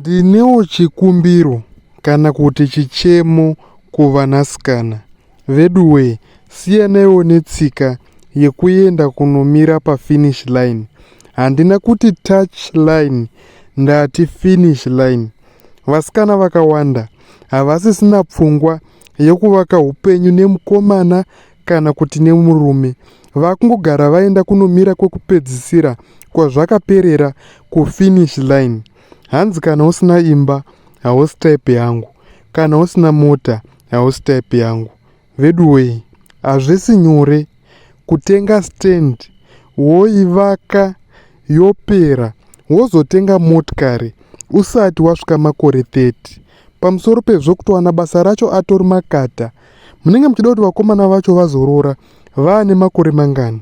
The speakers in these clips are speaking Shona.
Ndinewo chikumbiro kana kuti chichemo kuvanasikana. Veduwee siyanaiwo netsika yekuenda kunomira pafinish line. Handina kuti touch line ndati finish line. Vasikana vakawanda havasisina pfungwa yekuvaka hupenyu nemukomana kana kuti nemurume vakungogara vaenda kunomira kwekupedzisira kwazvakaperera kufinish line hanzi kana usina imba hausi type yangu kana usina mota hausi type yangu veduwei hazvisi nyore kutenga stand woivaka yopera wozotenga motikari usati wasvika makore 30 pamusoro pezvo kutowana basa racho atori makata munenge muchida kuti vakomana vacho vazorora vaane makore mangani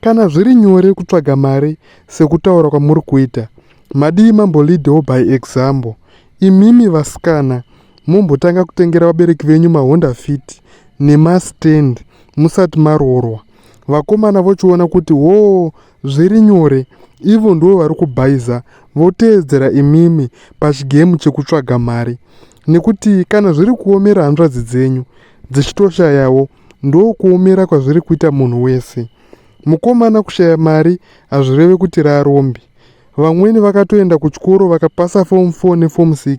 Kana zviri nyore kutsvaga mari sekutaura kwamuri kuita, madii mamboleadewo by example. Imimi vasikana mumbotanga kutengera vabereki venyu mahonda fit nemastand musati maroorwa. Vakomana vochiona kuti hoo zviri nyore ivo ndivo vari kubhaiza voteedzera imimi pachigemu chekutsvaga mari nekuti kana zviri kuomera hanzvadzi dzenyu dzichitoshayawo ndokuomera kwazviri kuita munhu wese mukomana kushaya mari hazvireve kuti rarombi vamweni vakatoenda kuchikoro vakapasa fom 4 nefom 6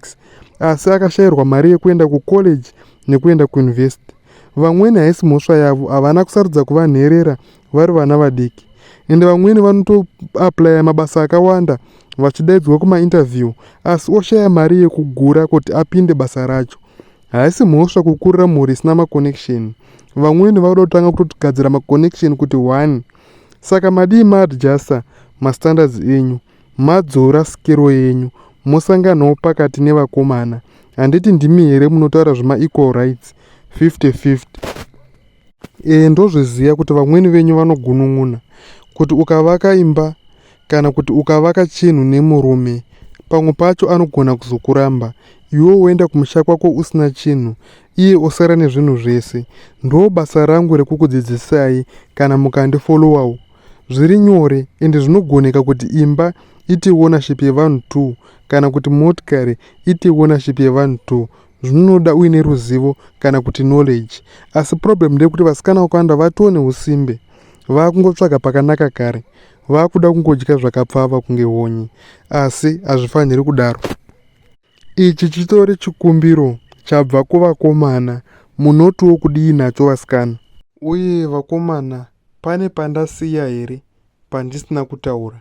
asi akashayirwa mari yekuenda kucollege nekuenda kuuniversity vamweni haisi mhosva yavo havana kusarudza kuva nherera vari vana vadiki ende vamweni vanotoaplaya mabasa akawanda vachidaidzwa kumainterview asi oshaya mari yekugura kuti apinde basa racho Haisi mhosva kukurira mhuri isina maconnection. Vamweni vanoda kutanga kutogadzira maconnection kuti one. Saka madii maadjuster mastandards enyu, madzora skero yenyu, mosanganawo pakati nevakomana. Handiti ndimi here munotaura zvemaequal rights 50-50? E, ndozviziva kuti vamweni venyu vanogunun'una kuti ukavaka imba kana kuti ukavaka chinhu nemurume pamwe pacho anogona kuzokuramba iwe woenda kumusha kwako usina chinhu iye osara nezvinhu zvese ndo basa rangu rekukudzidzisai kana mukandifolowawo zviri nyore ende zvinogoneka kuti imba iti ownership yevanhu two kana kuti motikari iti ownership yevanhu two zvinonoda uine ruzivo kana kuti knowledge asi problem ndeyekuti vasikana vakawanda vatoo neusimbe vaakungotsvaga pakanaka kare vaakuda kungodya zvakapfava kunge honye asi hazvifaniri kudaro ichi chitori chikumbiro chabva kuvakomana munotiwo kudii nacho vasikana uye vakomana pane pandasiya here pandisina kutaura